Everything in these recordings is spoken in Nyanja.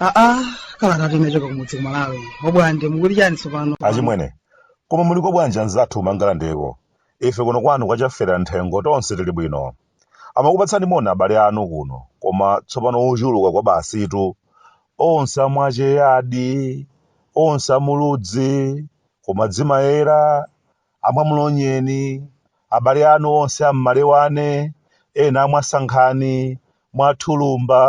aa kalanga anachoka kumudzi kumalawi obwande mukuti chani tsopano achimwene koma muliko bwanji anzathu kumangalande ko ife kuno kwanu kwa Chafera mthengo tonse tili bwino Amakupatsani moni abale anu kuno, koma tsopano ochuluka kwa basitu. Onse a Mwacheyadi, onse a Muludzi, Kumadzimayera, a Mwamlonyeni, abale anu onse a Mmalewane, ena a Mwasankhani, Mwathulumba,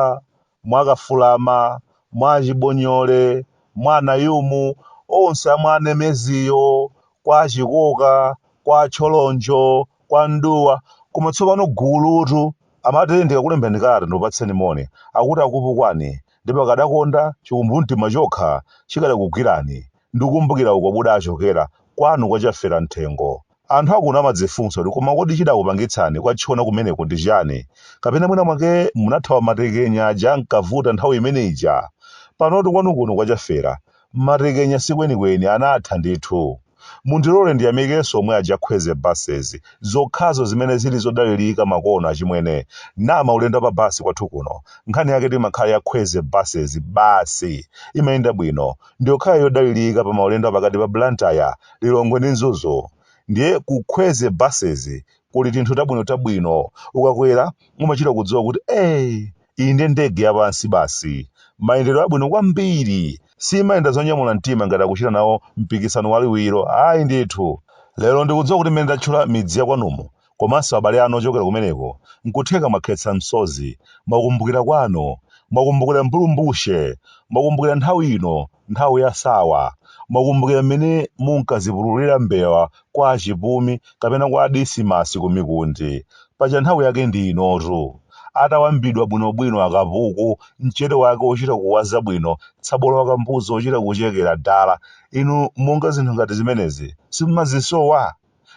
mwa Kafulama, mwa Chibonyole, mwa Anayumu, onse a mwa Nemeziyo, kwa Chikoka, kwa Tcholonjo, kwa Mduwa, koma tsopano gulutu amati ndikakulemberani kalata ndikupatseni moni, akuti akupukwani, ndipo akadakonda chikumbumtima chokha chikadakugwirani, ndikukumbukira uko mudachokera, kwanu kwa Chaferamthengo, Anthu a kuno amadzifunsa kuti koma kodi chidakupangitsani kutchona kumeneko ndi chiyani? Kapena mwina mwake munathawa matekenya aja ankavuta nthawi imene ija? Panotu kwanu kuno kwa Chafera. Matekenya si kwenikweni, anatha ndithu. Mundilole ndiyamikenso omwe aja Khweze Buses, zokhazo zimene zili zodalirika makono achimwene. Maulendo a pa bus kwathu kuno, nkhani yake imakhala ya Khweze Buses basi. Imayenda bwino. ndiyokhayo yodalilika pa maulendo apakati pa Blantyre, Lilongwe ndi Mzuzu. Ndiye ku Khweze Buses kuli tinthu tabwino tabwino. Ukakwera umachita kudziwa kuti ee! Iyi ndiye ndege yapansi basi. Mayendedwe abwino kwambiri. Siyimayenda zonyamula mtima ngati akuchita nawo mpikisano waliwiro, ayi ndithu. Lero ndikudziwa kuti mmene ndatchula midzi yakwanumu komanso abale anu ochokera kumeneko, nkutheka mwakhetsa msozi, mwakumbukira kwanu, mwakumbukira mbulumbuche, mwakumbukira nthawi ino, nthawi ya sawa, mwakumbukira m'mene munkazipululira mbewa kwa a Chipumi kapena kwa a Disimasi ku Mikundi, paja nthawi yake ndi inotu. Atawambidwa bwinobwino akapuku, mchere wake wochita kuwaza bwino, tsabola wa kambuzi wochita kuchekera dala, inu monga zinthu ngati zimenezi simumazisowa?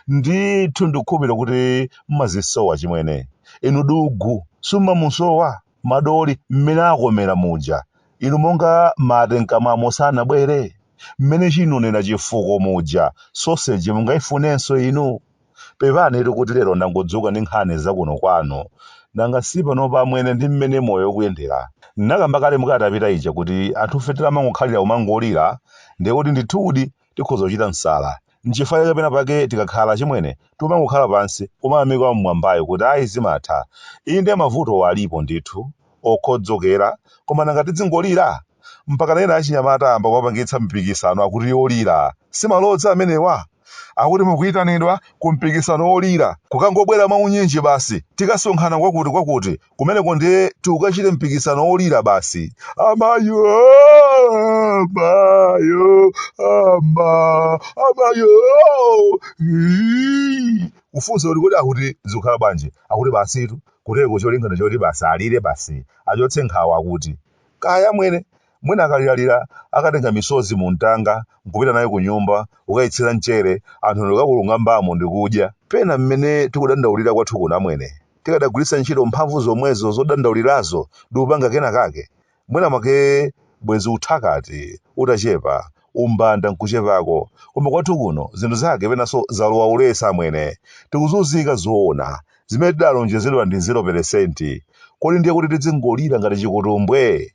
ndithu ndikukhulupira kuti mmazisowa chimwene inu dugu sumamusowa madoli mmene akomera muja inu monga mate mkamwamo sanabwere mmene chinonera chifuko muja soseji mungaifunenso inu pepanitu kuti lero ndangodzuka ndi nkhani zakuno kwanu nanga si panopa amwene ndi mmene moyo ukuyendera nakamba kale mukalata ija kuti anthufe tikumangokhalira kumangolira ndiye kuti ndithudi Tikhoza kuchita msala. Nchifukwa chake pena pake tikakhala achimwene timangokhala pansi kumayamika Wam'mwambayo kuti ayi zimatha. Inde mavutowo alipo ndithu, okhodzokera, koma nanga tidzingolira? Mpakana ena achinyamata ayamba kuwapangitsa mipikisano akuti yolira. Si malodza amenewa? Akuti mukuitanidwa kumpikisano wolira. Kukangobwera mwaunyinji basi, tikasonkhana kwakutikwakuti, kumeneko ndiye tikukachite mpikisano wolira basi amayo mayo mayo mayo ii. kufunsa kuti kodi akuti zikukhala bwanji akuti basitu kuteko cholingana choti basi alire basi achotse nkhawa akuti kaya amwene mwina akaliralira akatenga misozi mu mtanga nkupita nayo ku nyumba kukayitsira mchere anthu ndikakulungambamo ndikudya pena mmene tikudandaulira kwathu kuno amwene tikadagwiritsa ntchito mphamvu zomwezo zodandaulirazo ndi kupanga kena kake mwina mwake bwenzi uthakati utachepa umbanda nkuchepako koma kwathu kuno zinthu zake penanso zalowa ulesi amwene tikuzunzika zoona zimene tidalonjezedwa ndi 0 peresenti kodi ndiye kuti tidzingolira ngati chikutumbwe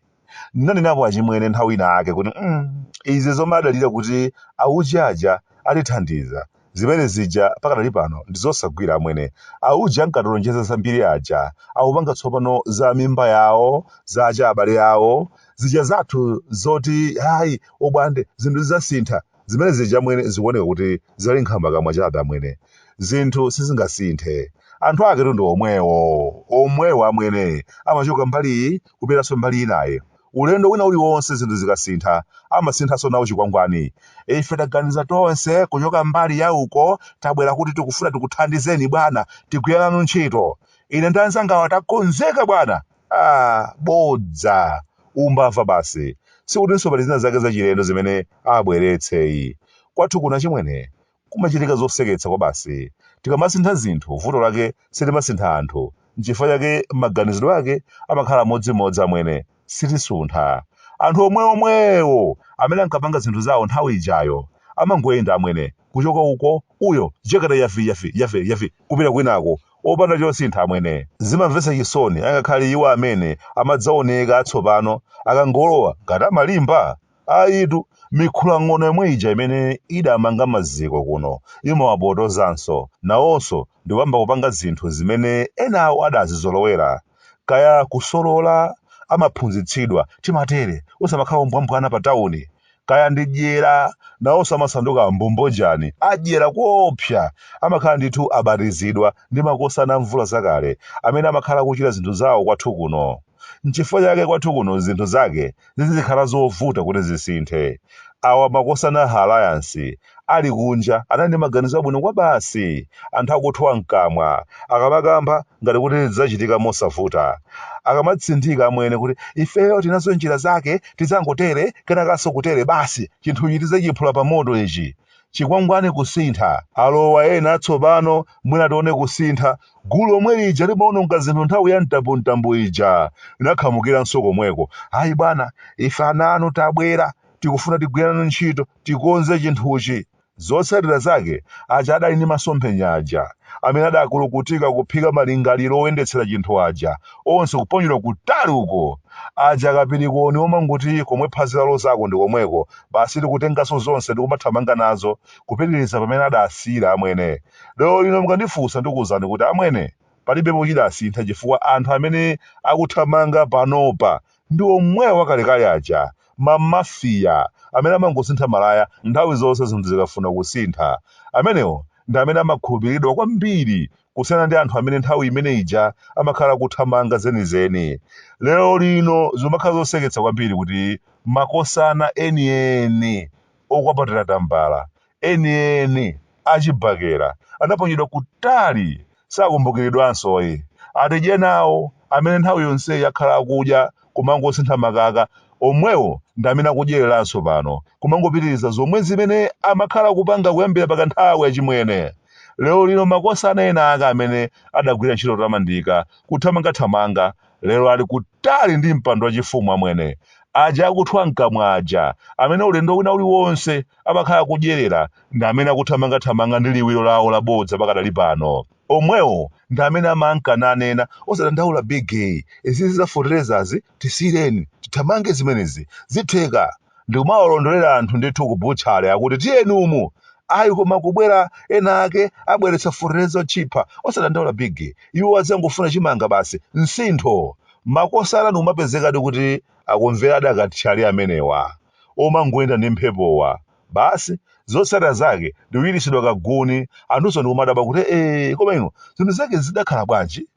Ndinanenapo achimwene nthawi ina yake kuti mm, izi zomadalira kuti auji aja atithandiza zimene zija pakadali pano ndizosagwira amwene auji ankatilonjeza zambiri aja akupanga tsopano za mimba yawo za abale awo zija zathu zoti hayi obwande zinthu zidzasintha Zimene zija amwene zikuoneka kuti zinali nkhambakamwa chabe amwene. Zinthu sizingasinthe. Anthu aketu ndi omwewo, omwewo amwene. Amachoka mbali iyi kupitanso mbali inayi. Ulendo wina uliwonse zinthu zikasintha, amasinthanso nawo chikwangwani. Ife taganiza tonse kuchoka mbali ya uko tabwera kuti tikufuna tikuthandizeni bwana, tigwire nanu ntchito. Ine ndi anzangawa takonzeka bwana! Ah, bodza! Umbava basi. Sikutinso pali zina zake zachilendo zimene abweretse ayi. Kwathu kuno achimwene, kumachitika zoseketsa kwabasi. Tikamasintha zinthu, vuto lake sitimasintha anthu. N'chifukwa chake maganizidwe ake amakhala amodzimodzi amwene. Sitisuntha. Anthu omweomwewo amene ankapanga zinthu zawo nthawi ijayo, amangoyenda amwene, kuchoka uko, uyo, jekete yafi, yafi, yafi, yafi, kupita kwinako, opanda chosintha, amwene. Zimamvetsa chisoni, angakhale iwo amene amadzawoneka atsopano, akangolowa, ngati amalimba? Ayitu, mikhulang'ono yomwe ija imene idamanga maziko kuno, imawapotozanso, nawonso, ndikuyamba kupanga zinthu zimene enawo adazizolowera. Kaya kusolola, amaphunzitsidwa, timatere, usamakhale ombwambwana pa tawuni. kaya ndi dyera nawonso amasanduka ambombo jani adyera koopsa amakhala ndithu abatizidwa ndi makosana amvula zakale amene amakhala akuchita zinthu zawo kwathu kuno nchifukwa chake kwathu kuno zinthu zake zizikhala zovuta kuti zisinthe awa makosana ha alliance ali kunja anali ndi maganizo abwino kwabasi anthu akuthwa mkamwa akamakamba ngati kuti zidzachitika mosavuta akamatsindika amwene kuti ifeyo tinazo njira zake tidzangotere kenakanso kutere basi chinthuchi tidzachiphula pa moto ichi chikwangwani kusintha alowa ena atsopano mwina tione kusintha gulu omwe lija limaononga zinthu nthawi ya mtambumtambu ija linakhamukiranso komweko ayi bwana ife ana anu tabwera tikufuna tigwire nanu ntchito tikonze chinthuchi zotsatira zake aja adali ndi masomphenya aja amene adakulukutika kuphika malingaliro oyendetsera chinthu aja onse kuponyedwa kutali uko aja akapirikoni omangoti komwe phazi lalozako ndi komweko basi tikutenganso zonse ndikumathamanga nazo kupitiriza pamene adasiyira amwene lero lino mukandifunsa ndikuwuzani kuti amwene palibepo chidasintha chifukwa anthu amene akuthamanga panopa ndi omwewo wakalekale aja, ma Mafia amene amangosintha malaya nthawi zonse zinthu zikafuna kusintha. Amenewo ndi amene amakhulupiriridwa kwambiri kusiyana ndi anthu amene nthawi imene ija amakhala akuthamanga zenizeni. Lerolino zikumakhala zoseketsa kwambiri kuti makosana enieni okwapatira tambala enieni a chibakera anaponyedwa kutali sakumbukiridwanso ayi atidyenawo amene nthawi yonseyi akhala akudya kumangosintha makaka omwewo ndi amene akudyereranso pano kumangopitiriza zomwe zimene amakhala akupanga kuyambira pa kanthawi achimwene lero lino makosana ena ake amene adagwira ntchito yotamandika kuthamangathamanga lero ali kutali ndi mpando wachifumu amwene aja akuthwa mkamwa aja amene ulendo wina uliwonse amakhala akudyerera ndi amene akuthamangathamanga ndi liwiro lawo labodza pakadali pano omwewo ndi amene amanka nanena osadandaula bige izi za fertilizer-zi tisiyireni tithamange zimenezi zitheka ndikumawalondolera anthu ndithu kubutchale akuti tiyeni umu ayi koma kubwera ena ake abweretsa fertilizer otchipha osadandaula bige iwo adzangofuna chimanga basi msintho makosana ndikumapezekadi kuti akumvera akathyali amenewa omangoyenda ndi mphepowa basi zotsatira zake ndikuchititsidwa kaguni anthunso ndikumadabwa kuti ee koma ino zinthu zake zidakhala bwanji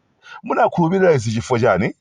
Munakhulupirira izi chifukwa chani?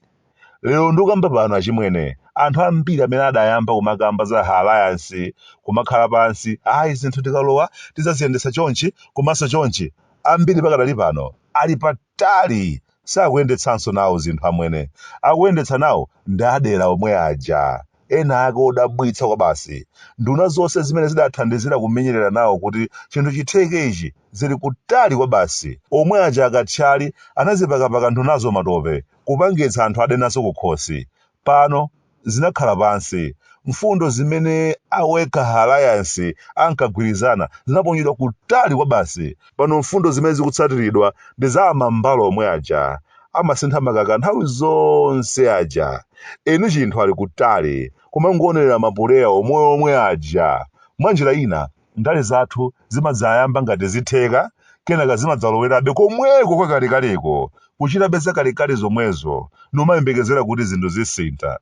Lero ndukamba pano achimwene, anthu ambiri amene adayamba kumakamba za ha alliance kumakhala pansi ayi zinthu tikalowa tidzaziyendetsa chonchi komanso chonchi ambiri pakadali pano ali patali sakuyendetsanso nawo zinthu amene akuyendetsa nawo ndi adyera omwe aja ena ake odabwitsa kwabasi. Nduna zonse zimene zidathandizira kumenyerera nawo kuti chinthu chitheke ichi zili kutali kwabasi. Omwe aja akathyali anazipakapaka ndunazo matope kupangitsa anthu ade nazo kukhosi. Pano zinakhala pansi. Mfundo zimene a Wekha Alliance ankagwirizana zinaponyedwa kutali kwabasi. Pano mfundo zimene zikutsatiridwa ndi za amambala omwe aja. amasintha makaka nthawi zonse aja eni chinthu ali kutali kumangoonelera mapuleya omweomwe aja mwa njira ina ndale zathu zimadzayamba ngati zitheka kenaka zimadzalowerabe komweko kwakalekaleko kuchitabe zakalekale zomwezo nkumayembekezera kuti zinthu zisintha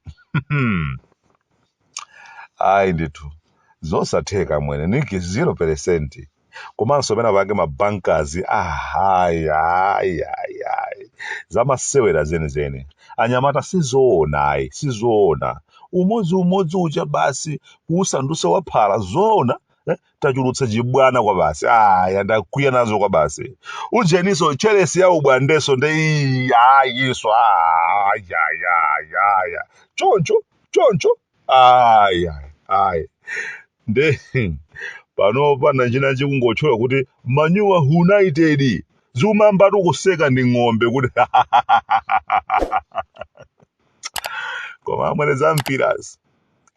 ayi ndithu zosatheka mwene niki 0 peresenti komanso pena pake ma Bankers ahayi ayi ayi ayi zamasewera zenizeni anyamata sizoona ayi sizoona umodzi umodzi ucha basi kuusandusa waphala zoona eh? tachulutsa chibwana kwabasi aya ndakwiya nazo kwabasi ujeniso Chelsea ya ubwandeso nde iyi ayinso ayayayaya choncho choncho ayi ayi ayi nde panopa nachina chikungotchula kuti manyowa united zikumayambatu kuseka ndi ng'ombe kuti koma amwene zampirazi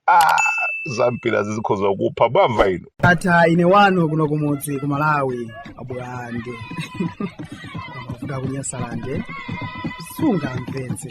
ah zampirazi zikhoza kupha mwamva inu ndatha ine wanu kuno kumudzi ku malawi abwande kuda kunyasalande sunga mpenzi